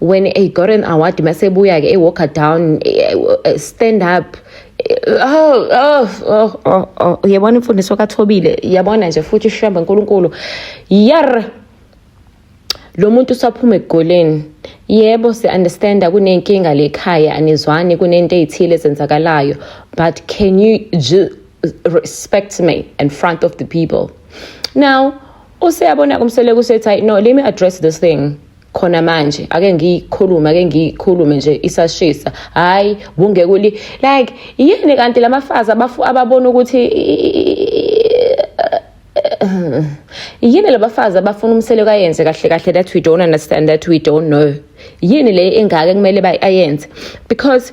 when a got an award masebuya ke walker down eh, eh, stand up oh oh oh oh, oh. uyabona imfundiso kathobile yabona nje futhi ishamba nkulunkulu yar lo muntu usaphuma egoleni yebo si-understanda kunenkinga lekhaya anizwani kunento ey'thile ezenzakalayo but can you respect me in front of the people now useyabona kumsele kusethi hayi no let me address this thing khona manje ake ngiyikhulume ake ngiyikhulume nje isashisa hayi kungeke uli like yini kanti lamafazi abafu ababona ukuthi yini labafazi abafuna umsele kayenze kahle kahle that we don't understand that we don't know yini le engaka kumele bayenze because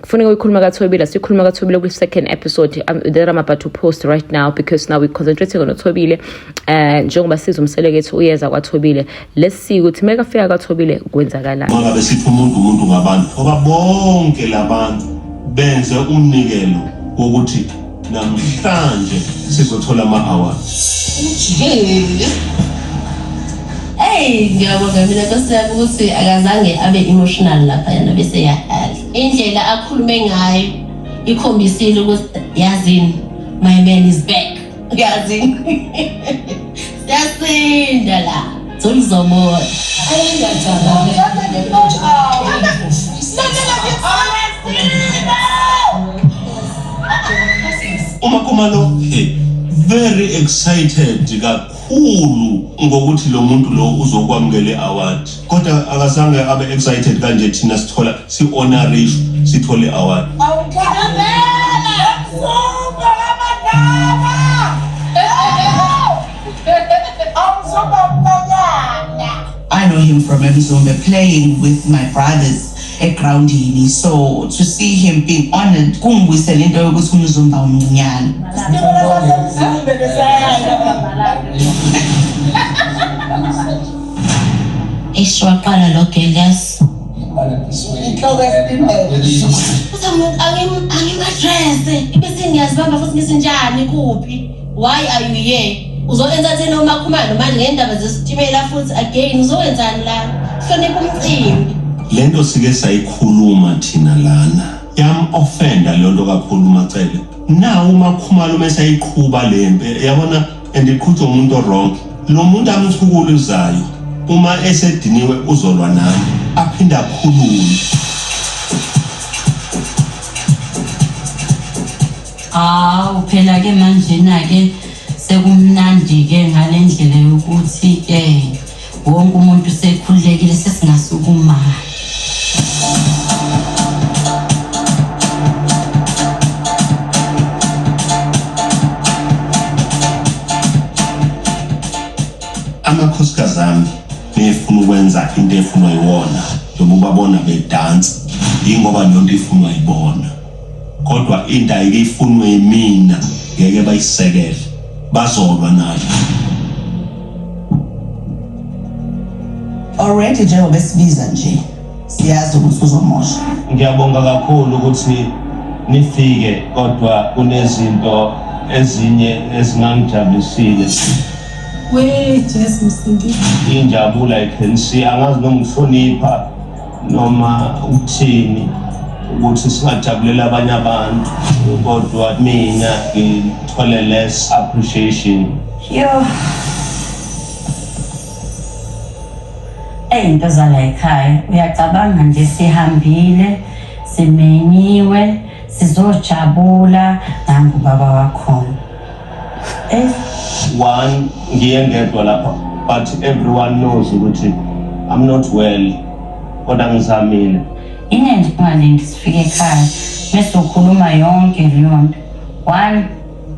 kufuneka uyikhuluma kathobile siyikhuluma kathobile kwi-second episode um, that i'm about to post right now because now we're concentrating on uthobile um uh, njengoba siza umselekethi uyeza kwathobile let's see ukuthi uma kafika kwathobile kwenzakalani ngabe sithi umuntu umuntu ngabantu ngoba bonke labantu benze umnikelo wokuthi Namhlanje sizothola ama-award. Ujikile. Hey, ngiyabonga mina Nkosi yami ukuthi akazange abe emotional lapha yana bese yahala. Indlela akhulume ngayo ikhombisile ukuthi yazini my man is back. Yazini. Siyasinda la. Sengizamoya. Ayengajabule. Umakuma lo very excited kakhulu ngokuthi lo muntu lo uzokwamukele award kodwa akazange abe excited kanje thina sithola si honorish sithole award awukhamela super amadala I know him from Mzumbe playing with my brothers egroundini so to see him being honored kungibuyisela into yokuthi umzumba umncinyane eish waqala lo gelas angimadrese bese ngiyazibamba futhi ngisinjani kuphi Why are you here? Uzoenzani uma khumalo manje ngendaba zesitimela futhi again uzoenzani la? Hlonipha umcimbi. Lento sike sayikhuluma thina lana. Yam offenda lento kakhulu Macele. Na uma khumalo mese ayiqhuba lempe yabona and iqhutha umuntu wrong. Lo muntu amthukulu uzayo uma esediniwe uzolwa nami aphinde akhulume. Hawu phela ke manje na ke sekumnandi ke ngalendlela yokuthi ke wonke umuntu sekhululekile sesingasukuma. amakhosikazi ami befuna ukwenza into efunwa yiwona noma ubabona bedansa yingoba leyonto ifunwa yibona kodwa into ayike ifunwe yimina ngeke bayisekele bazolwa nayo already njengoba esibiza nje siyazi ukuthi uzomosha ngiyabonga kakhulu ukuthi nifike kodwa kunezinto ezinye ezingangijabulisile we jesu msindisi injabula i can see angazi noma ngihlonipha noma uthini ukuthi singajabulela abanye abantu kodwa mina ngithole less appreciation yo Ey into zala ekhaya uyacabanga nje sihambile simenyiwe sizojabula nangu baba wakhona one ngiye ngedwa lapha but everyone knows ukuthi i'm not well kodwa ngizamile inenze phane ngisifike ekhaya bese ukhuluma yonke leyo nto one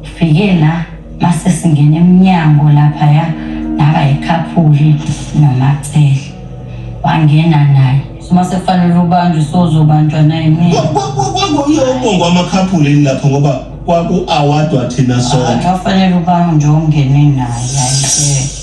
ngifike la mase singena emnyango lapha ya naba yikhaphuli nomacele wangena naye uma sekufanele ubanjwe sozobanjwa naye mina kwakuyobongwa amakhaphula yini lapho ngoba kwaku-awadwa thina ah, sonke kwafanele ubanjwe nje ongene naye ayike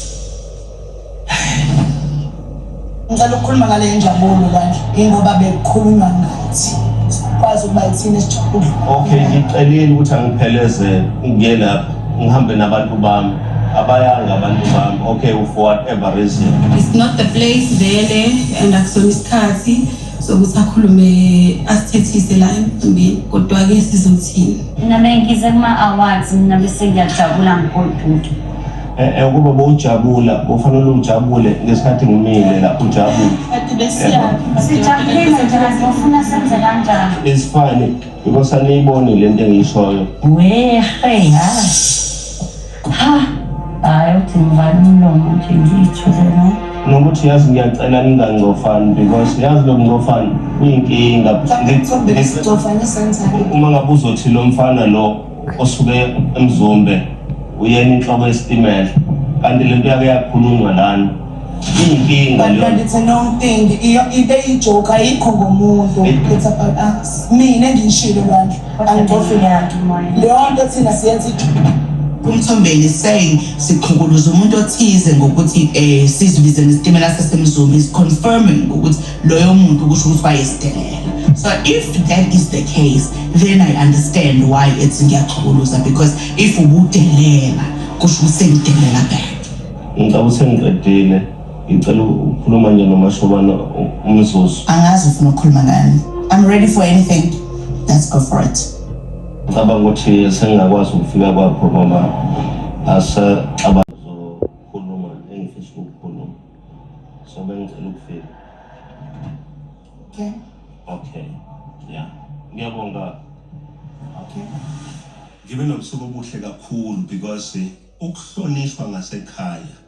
ngicela ukukhuluma ngale njabulo kanje ingoba bekukhulunywa ngathi sikwazi ukuba yithina esijabule okay ngicelile ukuthi angiphelezele ngiye lapho ngihambe nabantu bami abayanga abantu bami okay for whatever reason it's not the place vele and akusona isikhathi sokuthi akhulume asithethise la emcimbini kodwa-ke sizothini mina bengize kuma-awards mina bese ngiyajabula ngigoduke eh, eh, ukuba bowujabula bofanele ujabule ngesikhathi ngimile la ujabule it's funny because aniyiboni le nto engiyishoyo wehe yazi ha hayi uthi ngibani umlomo nje ngiyithule no nokuthi yazi ngiyacela ningangcofani because yazi lo mncofani uyinkinga uma ngabe uzothi lo mfana lo osuke emzumbe uyena inhloko yesitimela kanti le nto yake yakhulunywa lana iyinkinga leyo kanti thina umtingi ibe ijoke ayikho ngomuntu it's about us mina ngishilo bandla angidofile yakhe leyo nto thina siyenza umthombeni saying siqhukuluza umuntu othize ngokuthi um sizibize ngesitimela sasemzumi is confirming ukuthi loyo muntu kusho ukuthi wayesitimela so if that is the case then i understand why ethi ngiyaqhukuluza because if ubudelela kusho ukuthi sengidelela back ngicabanga ukuthi sengiqedile Ngicela ukukhuluma nje nomashobana umzuzu. Angazi ufuna ukukhuluma ngani. I'm ready for anything. Let's go for it. Ngicabanga ukuthi sengingakwazi ukufika kwakho noma asexaba zokhuluma engifisa ukukhuluma. So bengicela ukufika. Okay. Okay. Yeah. Ngiyabonga. Okay. Ngibe nobusuku obuhle kakhulu because ukuhlonishwa ngasekhaya